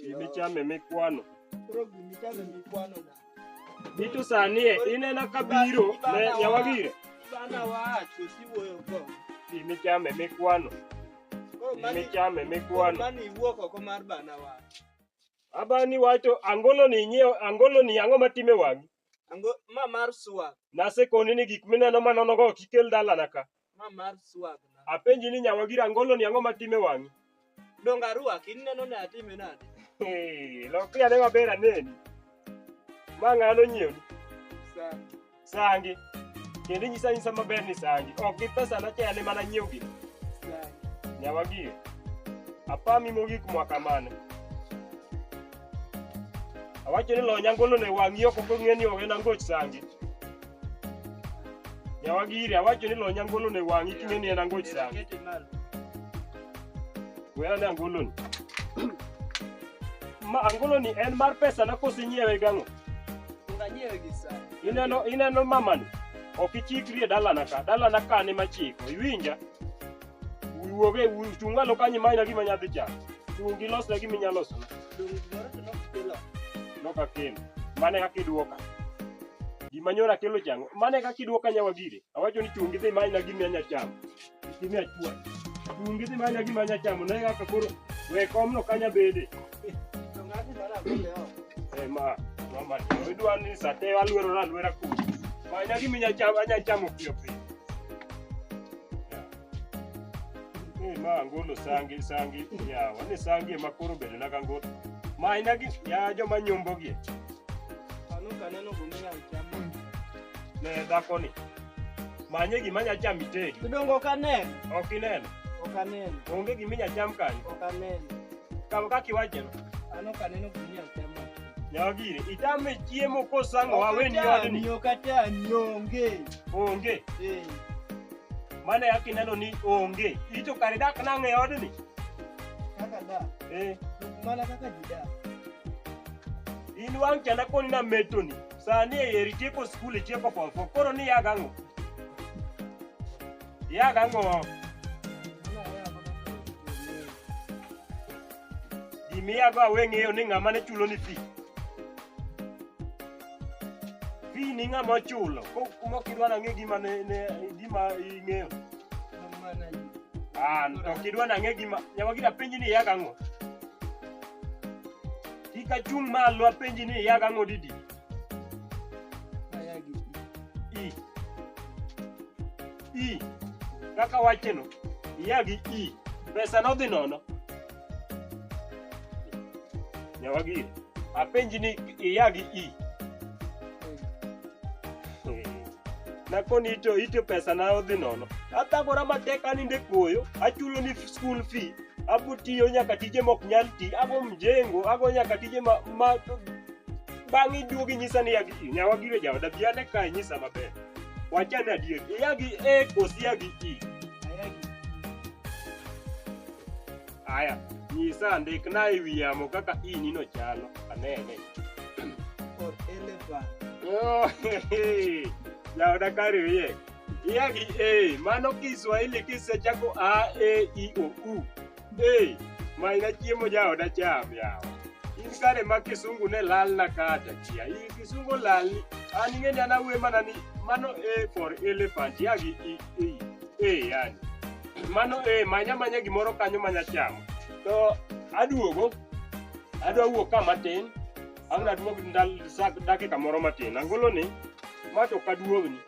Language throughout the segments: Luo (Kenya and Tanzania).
Gimichame mikwano. Koro gimichame mikwano na. Gitu sanie inena kabiro ne nyawagire. Bana wacho siwoyo go. Gimichame mikwano. Gimichame mikwano. Mani iwuok oko mar bana wacho. Abani wacho angolo ni nyiew angolo ni ang'o matime wang'i? Ango ma mar suwa. Nasekoni ni gik mineno manonogo kik kel dalana ka. Ma mar swag na. Apenji ni nyawa gira ngolo ni ang'o matime wang'i? Donga ruaki ineno ne atime nade? Hey, lokri ane maber aneni. Ma ng'ano nyiewni? Sana. Sangi. Kendo inyisa nyisa maber ni sangi. Ok gi pesa na chayane mana nyiew gi. Sana. Nyawa gie. Apami mogik mwaka mane. Awacho ni lonya ngolo ne wang'i ok ok ong'e ni ogen angoch sangi. Nyawagiri awacho ni lonya ngolo ne wang' iting'e ni en ango chang. Wera ne angolo ni. Ma angolo ni en mar pesa na kosi nyiewe gang'o? Nganyiewe gi sa. Ineno ineno mama ni. Ok ichikri e dalana ka. Dalana ka ni machiko. Iwinja? Wuoge wuchungalo kanyi manya gima nyadhi chako. Chung' gilosna gima inyalo losona. Noka kin. Mane kaka idwoka. Gima nyora kelo chango. Mane kaka idwoka nyawa gire. Awacho ni chungi dhi manya gimi anya chamo. Gimi achwa. Chungi dhi manya gimi anya chamo. Ne kaka koro we komno kanya bede. Eh ma, mama, idwa ni sate alwero na alwera kuno. Manya gimi anya chamo, anya chamo pio pio. Eh, ma angolo sangi sangi yawa ni sangi ema koro bedo na kangolo ma aina gi ya joma nyombo gi Ano kaneno gunia chamo. ne dhako ni manye gima nya cham itedi Kidongo kaneno. ok ineno Ok aneno. onge gima inya cham kanyo Ok aneno. kama kaka iwacho no Ano kaneno gunia chamo. nyawa gire itame chiemo kosango waweni odni Okatani, okatani, onge. onge Eh. Mane yaki ineno ni onge. Ito kare dak nang'e e odni. Kaka da. Eh. Mana kaka jida. In wang' chanda koni na metoni. Sani e yeri tieko skul tieko form four. Koro ni yaga ang'o? Yaga ang'o? Gimiyago aweng'eyo ni ng'ama ne chulo ni fee. Fee ni ng'ama ochulo. Ko kuma ok idwa nang'e gima ne ne gima ing'eyo. Ah, to ok idwa nang'e gima nyama gida penji ni yaga ng'o. Kika chung' malo apenji ni yaga ng'o didi. I. I. Kaka wacheno. Yagi i. Pesa nodhi nono. Nyawagiri, apenji ni iya gi i. Nakoni ito ito pesa na odhi nono. Atagora matek aninde koyo, achulo ni school fee, abutiyo nyaka tije mok nyal ti, ago mjengo, ago nyaka tije ma, ma bang' iduogi nyisa ni yagi i. Nyawagiri jaoda bi ane kae nyisa maber. Wachane adier, iya gi e kosi iya gi i. Aya, nyisa andikna e wi yamo kaka inino chalo. Anene. Or elephant. Oh, Jaoda kari wiye. Iya gi A, mano Kiswahili kisechako A, E, I, O, U. A, maina chiemo jaoda cham yawa. In kare ma kisungu ne lal na kata kia. In kisungu lal ni, an ing'eni an awuoyo mana ni mano A for elephant, ya gi I. eh, eh, yani mano eh, manya manya gimoro kanyo manya chamo to aduogo adwa wuok ka matin ang'na duog dakika moro matin angolo ni ma to kaduogni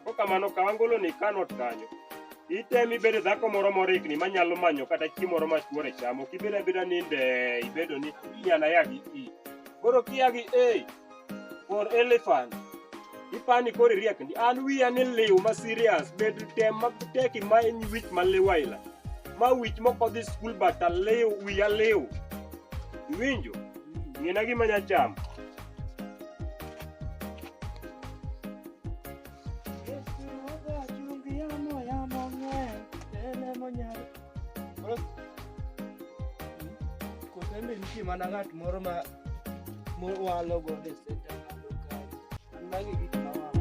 ko kamano ka angolo ni kanot kanyo itemi bedo dhako moro morikni manyalo manyo kata chiemo moro machuore chamo kibedo abeda ninde ibedo ni inyana yagi i koro kiyagi e or elephant. Ipani kori riek ndi an wiya ni liw ma serious bed tem ma teki ma en wich ma liwaila. Ma wich moko dhi skul bata liw wiya liw. Iwinjo? Ng'ina gima nya chamo. Kosembe nitie mana ng'at moro ma mowalo godo e senta kado kado. An magi gik ma walo.